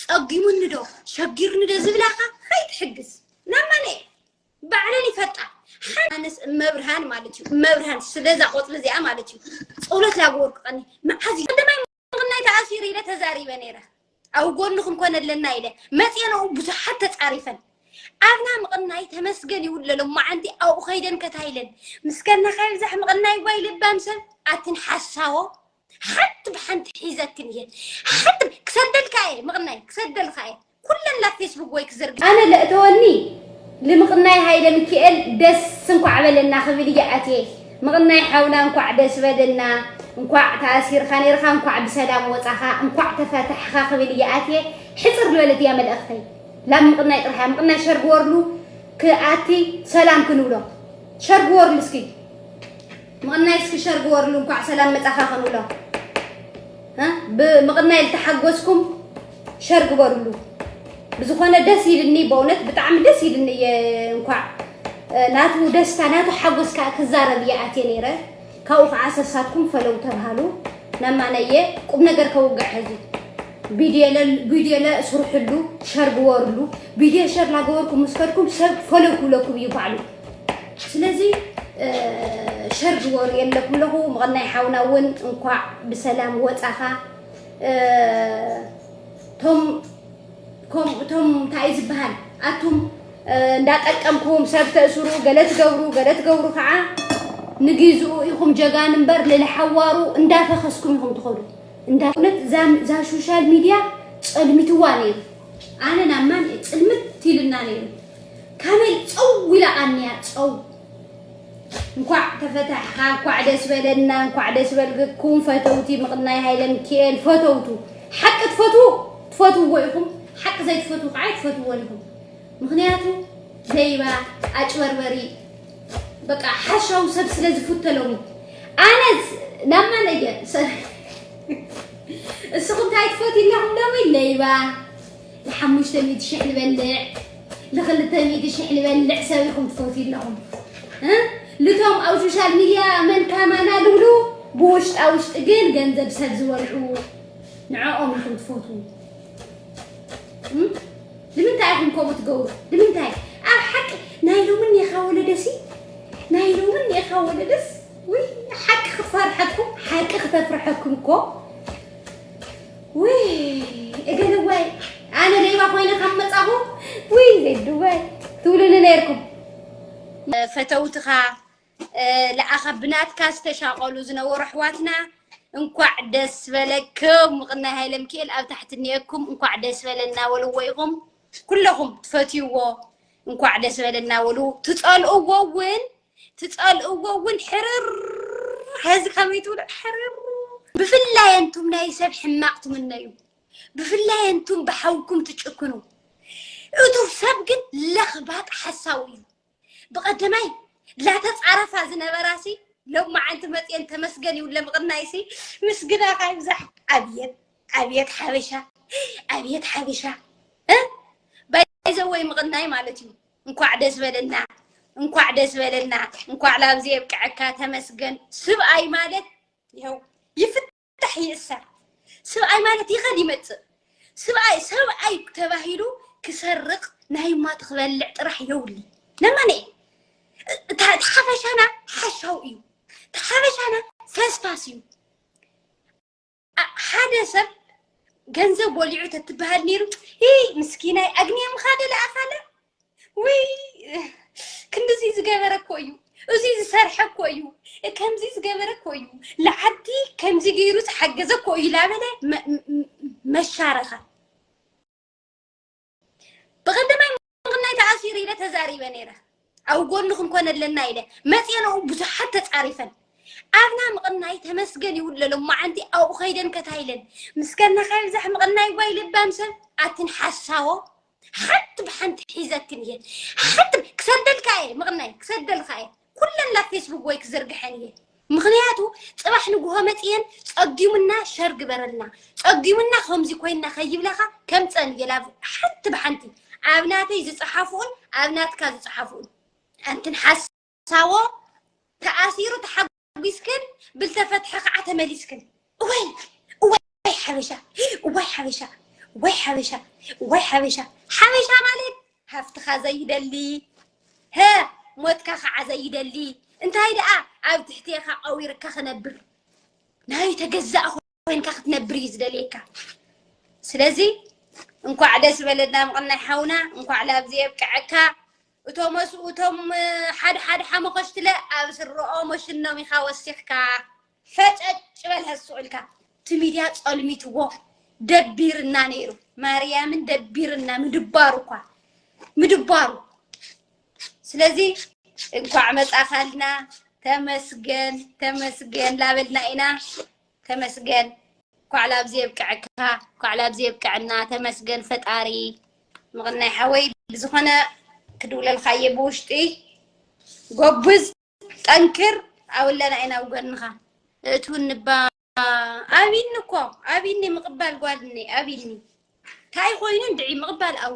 ጸጊሙኒዶ ሸጊሩኒዶ ዝብላኻ ኣይትሕግዝ ናብ ማነየ ባዕለን ይፈጣ ሓንስ እመብርሃን ማለት እዩ እመብርሃን ስለዛ ቆፅሊ እዚኣ ማለት እዩ ፀሎት ላግበርኩቀኒ መዓዝ እዩ ቀዳማይ ምኽናይ ተኣሲሩ ኢለ ተዛሪበ ነይረ ኣብ ጎንኹም ኮነ ኣለና ኢለ መፅኤንኡ ብዙሓት ተፃሪፈን ኣብና ምቕናይ ተመስገን ይውለሎ ማዓንቲ ኣብኡ ከይደን ከታይለን ምስከና ከይብዛሕ ምቕናይ ጓይ ልባም ሰብ ኣትን ሓሳዎ ሓንቲ ብሓንቲ ሒዘክን እየ ሓንቲ ክሰደልካ እየ ምቕናይ ክሰደልካ እየ ኩለን ናብ ፌስቡክ ወይ ክዘርግ ኣነ ለእተወኒ ልምቕናይ ሃይለ ሚካኤል ደስ እንኳዕ በለና ክብል እየ ኣትየ ምቕናይ ሓውና እንኳዕ ደስ በለና እንኳዕ ተኣሲርካ ነይርካ እንኳዕ ብሰላም ወፃኻ እንኳዕ ተፈታሕኻ ክብል እየ ኣትየ ሕፅር ዝበለት እያ መልእኽተይ ላብ ምቕናይ ጥራሕ ምቕናይ ሸርግ ወርሉ ክኣቲ ሰላም ክንብሎ ሸርግ ወርሉ እስኪ ምቕናይ እስኪ ሸር ግበርሉ እንኳዕ ሰላም መፃኻ ከንብሎ ብምቕናይ ዝተሓጎስኩም ሸር ግበርሉ ብዝኾነ ደስ ይልኒ በእውነት ብጣዕሚ ደስ ይልኒ እየ እንኳዕ ናቱ ደስታ ናቱ ሓጎስ ከዓ ክዛረብ እየ ኣትየ ነይረ ካብኡ ከዓ ሰሳትኩም ፈለው ተብሃሉ ነማነየ ቁም ነገር ከውግዕ ሕዚ ቪድዮ ለስርሕሉ ሸር ግበርሉ ቪድዮ ሸር ላገበርኩም ምስ ከድኩም ሰብ ፈለው ክብለኩም እዩ ባዕሉ ስለዚ ሸር ዝበሩ የለኹ ኣለኹ ምቕናይ ሓውና እውን እንኳዕ ብሰላም ወፃኻ ቶም ከምኡ እቶም እንታይ እዩ ዝበሃል ኣቱም እንዳጠቀምኩም ሰብ ተእስሩ ገለ ትገብሩ ገለ ትገብሩ ከዓ ንግዝኡ ኢኹም ጀጋን እምበር ንልሓዋሩ እንዳፈኸስኩም ኢኹም ትኸዱ እንዳ እውነት እዛ ሶሻል ሚድያ ፀልሚትዋ ነይሩ ኣነ ናብ ማን ፅልምት ኢልና ነይሩ ካሜል ጸው ኢላ ቀንያ ጸው። እንኳዕ ተፈታሕኻ እንኳዕ ደስ በለና እንኳዕ ደስ በልኩም ፈተውቲ ምቕናይ ሃይለ ሚካኤል ፈተውቱ ሓቂ ትፈትዉ ትፈትውዎ ኢኹም ሓቂ ዘይትፈትዉ ከዓ ኣይትፈትዎን ኢኹም ምክንያቱ ለይባ ኣጭበርበሪ በቃ ሓሻው ሰብ ስለ ዝፍተሎም እዩ ኣነ ናብ ማን እየ ንስኹም እንታይ ትፈትዩ ኣለኹም ሎሚ ለይባ ንሓሙሽተ ሚእቲ ሽሕ ንበልዕ ንክልተ ሚእቲ ሽሕ ንበልዕ ሰብ ኢኹም ትፈትዩ ኣለኹም እ ልቶም ኣብ ሶሻል ሚድያ መን ካማና ልብሉ ብውሽጣ ውሽጢ ግን ገንዘብ ሰብ ዝበልዑ ንዕኦም ኢኹም ትፈትዉ ንምንታይ ኢኹም ከምኡ ትገብሩ ንምንታይ ኣብ ሓቂ ናይ ሎሚ እኒኻ ወለደሲ ናይ ሎሚ እኒኻ ወለደስ ውይ ሓቂ ክፈርሐኩም ሓቂ ክተፍርሐኩም እኮ ውይ እገለዋይ ኣነ ሌባ ኮይነ ካብ መፃኹ ውይ ዜድዋይ ትብሉኒ ነይርኩም ፈተውትኻ ለኣኻ ብናትካ ዝተሻቐሉ ዝነበሩ ኣሕዋትና እንኳዕ ደስ በለክም ምቕናይ ሃይለ ምክኤል ኣብ ታሕቲ እኒኤኩም እንኳዕ ደስ በለና በልዎ ኢኹም ኩለኹም ትፈትይዎ እንኳዕ ደስ በለና በሉ ትፀልእዎ እውን ትጸልእዎ እውን ሕርር ሐዚ ከመይ ትብሉ ሕርር ብፍላይ ኣንቱም ናይ ሰብ ሕማቕ ትምነዩ ብፍላይ ኣንቱም ብሓውኩም ትጭክኑ እቱ ሰብ ግን ለኽባጥ ሓሳዊ እዩ ብቐደማይ ላተፃረፋ ዝነበራሲ ሎማዓንቲ መፅየን ተመስገን ይብለ ምቕናይሲ ምስግናኻ ይብዛሕ ኣብየት ኣብየት ሓበሻ ኣብየት ሓበሻ ባይዘወይ ምቕናይ ማለት እዩ እንኳዕ ደስ በለና እንኳዕ ደስ በለና እንኳዕ ላብዚ የብቅዐካ ተመስገን ስብኣይ ማለት ይኸው ይፍታሕ ይእሰር ስብኣይ ማለት ይኸድ ይመፅእ ስብኣይ ሰብኣይ ተባሂሉ ክሰርቅ ናይ ማት ክበልዕ ጥራሕ የውሊ ነማነ እቲ ሓፈሻና ሓሻው እዩ እቲ ሓፈሻና ፈስፋስ እዩ ሓደ ሰብ ገንዘብ ወሊዑ ተትበሃል ነይሩ ምስኪናይ ኣግንየ ምኻደ ለኣኻለ ውይ ክንዲዚ ዝገበረ እኮ እዩ እዚ ዝሰርሐ እኮ እዩ ከምዚ ዝገበረ እኮ እዩ ለዓዲ ከምዚ ገይሩ ዝሓገዘ እኮ እዩ ላበለ መሻረኻ ብቀደማይ ምቕናይ ተኣሲሩ ኢለ ተዛሪበ ነይረ ኣብ ጎንኹም ኮነ ኣለና ኢለ መፅኤን ኣብኡ ብዙሓት ተፃሪፈን ኣብና ምቕናይ ተመስገን ይብሉ ዘሎ መዓንቲ ኣብኡ ከይደን ከታይለን ምስከና ከይብዛሕ ምቕናይ ጓይ ልባም ሰብ ኣትን ሓሳቦ ሓንቲ ብሓንቲ ሒዘክን እየን ሓንቲ ክሰደልካ እየ ምቕናይ ክሰደልካ እየ ኩለን ናብ ፌስቡክ ወይ ክዝርግሐን እየ ምክንያቱ ፅባሕ ንጉሆ መፅየን ፀጊሙና ሸር ግበረልና ፀጊሙና ከምዚ ኮይና ከይብላካ ከምፀን እየ ላብ ሓንቲ ብሓንቲ ኣብ ናተይ ዝፀሓፍኡን ኣብ ናትካ ዝፀሓፍኡን ኣንትን ሓሳዎ ተኣሲሩ ተሓጒስክን ብልተፈትሐ ከዓ ተመሊስክን እዋይ እዋይ ሓበሻ እዋይ ሓበሻ ወይ ሓበሻ ወይ ሓበሻ ሓበሻ ማለት ሃፍትኻ ዘይደሊ ሀ ሞትካ ከዓ ዘይደሊ እንታይ ደኣ ኣብ ትሕትኻ ቀዊርካ ክነብር ናይ ተገዛእ ኮንካ ክትነብር እዩ ዝደልየካ ስለዚ እንኳዕ ደስ በለና ምቕናይ ሓውና እንኳዕ ላብዚ የብቅዐካ እቶም እቶም ሓደ ሓደ ሓመኸሽትለ ኣብ ስረኦም ወሽኖም ኢኻ ወሲኽካ ፈጨጭ በል ሀሱ እልካ እቲ ሚድያ ጸልሚትዎ ደቢርና ነይሩ ማርያምን ደቢርና ምድባሩ እኳ ምድባሩ ስለዚ እንኳዕ መጻኻልና ተመስገን ተመስገን ላበልና ኢና ተመስገን እንኳዕ ላብዚ የብቅዐካ እንኳዕ ላብዚ የብቅዐና ተመስገን ፈጣሪ ምቕናይ ሓወይ ብዝኾነ ክድውለልካ እየ ብውሽጢ ጎብዝ ጠንክር ኣውለና ኢና ኣብ ጎንኻ እትውን እባ ኣብኒ እኮ ኣብኒ ምቕባል ጓድኒ ኣብኒ እንታይ ኮይኑ እንድዒ ምቕባል ኣው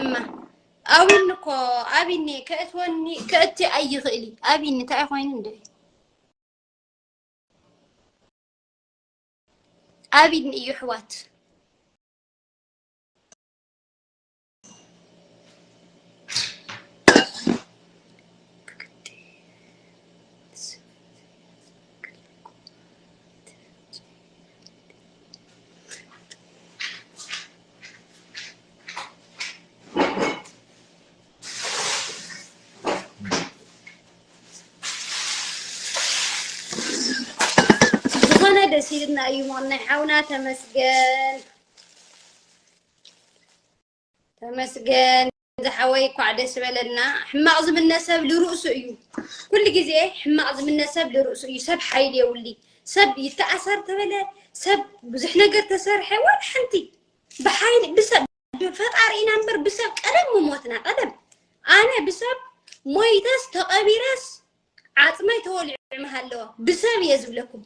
እማ ኣዊኒ እኮ ኣቢኒ ከእትወኒ ከእቲ ኣይኽእሊ ኣቢኒ እንታይ ኮይኑ እንደ ኣቢኒ እዩ ኣሕዋት ዝኾነ ደስ ኢልና እዩ ሞናይ ሓውና ተመስገን ተመስገን ዝሓወይ እኳዕ ደስ በለና ሕማቕ ዝምነ ሰብ ልርእሱ እዩ ኩሉ ግዜ ሕማቕ ዝምነ ሰብ ልርእሱ እዩ ሰብ ሓይሊ የውሊ ሰብ ይተኣሳር ተበለ ሰብ ብዙሕ ነገር ተሰርሐ ዋላ ሓንቲ ብሓይሊ ብሰብ ብፈጣሪ ኢና እምበር ብሰብ ቀደም ምሞትና ቀደም ኣነ ብሰብ ሞይተስ ተቐቢረስ ዓፅመይ ተወሊዑ ምሃለወ ብሰብ እየ ዝብለኩም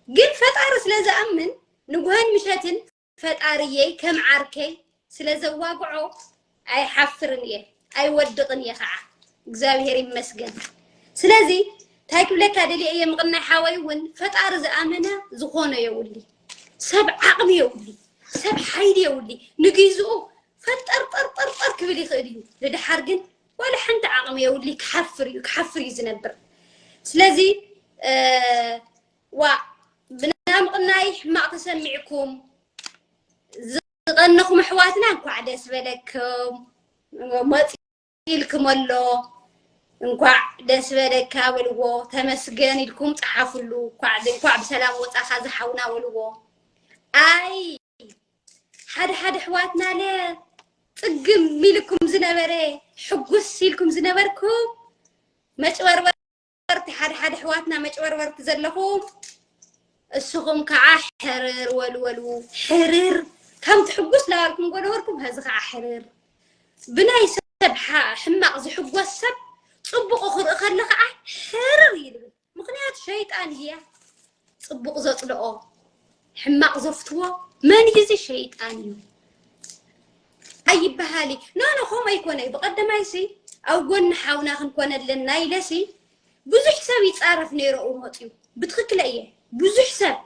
ግን ፈጣሪ ስለ ዝኣምን ንጉሀን ምሸትን ፈጣሪየይ ከም ዓርከይ ስለ ዘዋግዖ ኣይሓፍርን እየ ኣይወድቅን እየ ካዓ እግዚኣብሔር ይመስገን ስለዚ ታይ ክብለካ ደልየ እየ ምቅናይ ሓወይ እውን ፈጣሪ ዝኣመነ ዝኾኖ የውሊ ሰብ ዓቅሚ የውሊ ሰብ ሓይሊ የውሊ ንግዝኡ ፈጠርጠርጠርጠር ክብል ይኽእል እዩ ንድሓር ግን ዋላ ሓንቲ ዓቅሚ የውሊ ክሓፍር እዩ ክሓፍር እዩ ዝነብር ስለዚ ዋ ብና ምቕናይ ሕማቅ ተሰሚዕኩም ዝቐነኹም ኣሕዋትና እንኳዕ ደስ በለኩም መፅ ኢልክም ኣሎ እንኳዕ ደስ በለካ በልዎ ተመስገን ኢልኩም ፀሓፍሉ እንኳዕ ብሰላም ወፃኻ ዝሓውና በልዎ ኣይ ሓደ ሓደ ኣሕዋትናለ ፅግም ኢልኩም ዝነበረ ሕጉስ ኢልኩም ዝነበርኩም መጭበርበር መጨበርበርቲ ሓደ ሓደ ኣሕዋትና መጨበርበርቲ ዘለኹም እስኹም ከዓ ሕርር ወልወሉ ሕርር ከም ትሕጉስ ላበልኩም ጎነበርኩም ሀዚ ከዓ ሕርር ብናይ ሰብ ሕማቕ ዝሕጎስ ሰብ ፅቡቑ ክርኢ ከሎ ከዓ ሕርር ይብል ምክንያቱ ሸይጣን እያ ጽቡቕ ዘጽልኦ ሕማቕ ዘፍትዎ መን እዩ እዚ ሸይጣን እዩ ኣይበሃል እዩ ኖ ኖ ከምኡ ኣይኮነ እዩ ብቐደማይ ሲ ኣብ ጎኒ ሓውና ክንኮነ ኣለና ኢለ ሲ ብዙሕ ሰብ ይፃረፍ ነይረ እው መፅዩ ብትክክለ እየ ብዙሕ ሰብ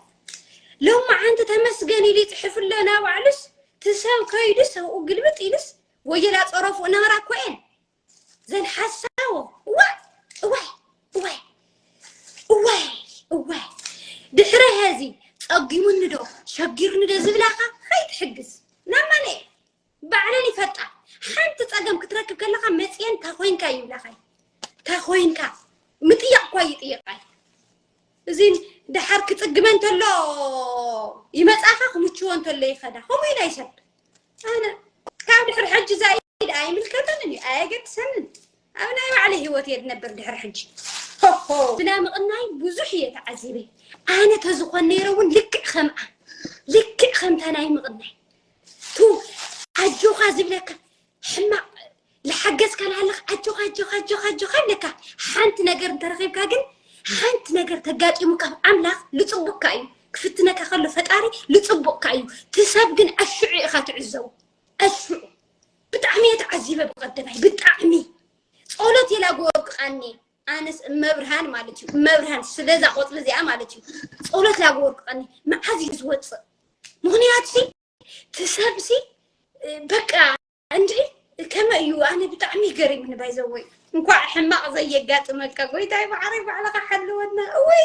ሎማ ዓንቲ ተመስገን ኢሉ ይፅሕፍ ኣሎ ናባዕሉስ ትሰብ ከይዱስ ኣብኡ ግልብጥ ኢሉስ ወየላ ፀረፉ እናራ እኮ እየን ዘን ሓሳዎ እዋይ እዋይ እዋይ እዋይ እዋይ ድሕረ ሀዚ ጸጊሙኒ ዶ ሸጊርኒ ዶ ዝብላኻ ኣይትሕግዝ ናብ ማነ ባዕለን ይፈልጣ ሓንቲ ጸገም ክትረክብ ከለኻ መጽየን ታኾይንካ ይብላኻይ ታኾይንካ ምጥያቕ እኳ ይጥየቃይ እዚ ደሓር ክጽግመ እንተሎ ይመጻኻ ክምችዎ እንተሎ ይኸዳ ከምኡ ኢና ይሰብ ኣነ ካብ ድሕሪ ሕጂ ዛይ ኣይምልከተንን እዩ ኣየገድሰንን ኣብ ናይ ባዕለ ሂወት እየ ድነብር ድሕሪ ሕጂ ሆሆ ብና ምቕናይ ብዙሕ እየ ተዓዚበ ኣነ ተዝኾን ነይረ እውን ልክዕ ከምኣ ልክዕ ከምታ ናይ ምቕናይ ቱ ኣጆኻ ዝብለካ ሕማቅ ልሓገዝካ ልሃለኽ ኣጆኻ ኣጆኻ ኣጆኻ ኣጆኻ ኣለካ ሓንቲ ነገር እንተረኺብካ ግን ሓንቲ ነገር ተጋጢሙካ ብ ኣምላኽ ልጽቡቅካ እዩ ክፍትነካ ከሎ ፈጣሪ ልጽቡቅካ እዩ ትሰብ ግን ኣሽዑ ኢኻ ትዕዘቡ ኣሽዑ ብጣዕሚ እየ ተዓዚበ ብቀደማይ ብጣዕሚ ጸሎት የላግወርቅ ቃኒ ኣነስ እመብርሃን ማለት እዩ እመብርሃን ስለዛ ቆፅሊ እዚኣ ማለት እዩ ጸሎት ላግወርቅ ቃኒ መዓዝ እዩ ዝወፅእ ምክንያቱ እቲ ሰብዚ በቃ እንዴ ከመይ እዩ ኣነ ብጣዕሚ ይገሪምኒ ባይዘወይ እንኳዕ ሕማቕ ዘየጋጥመካ ጎይታይ ማዓረይ ባዕልኻ ሓልወና እወይ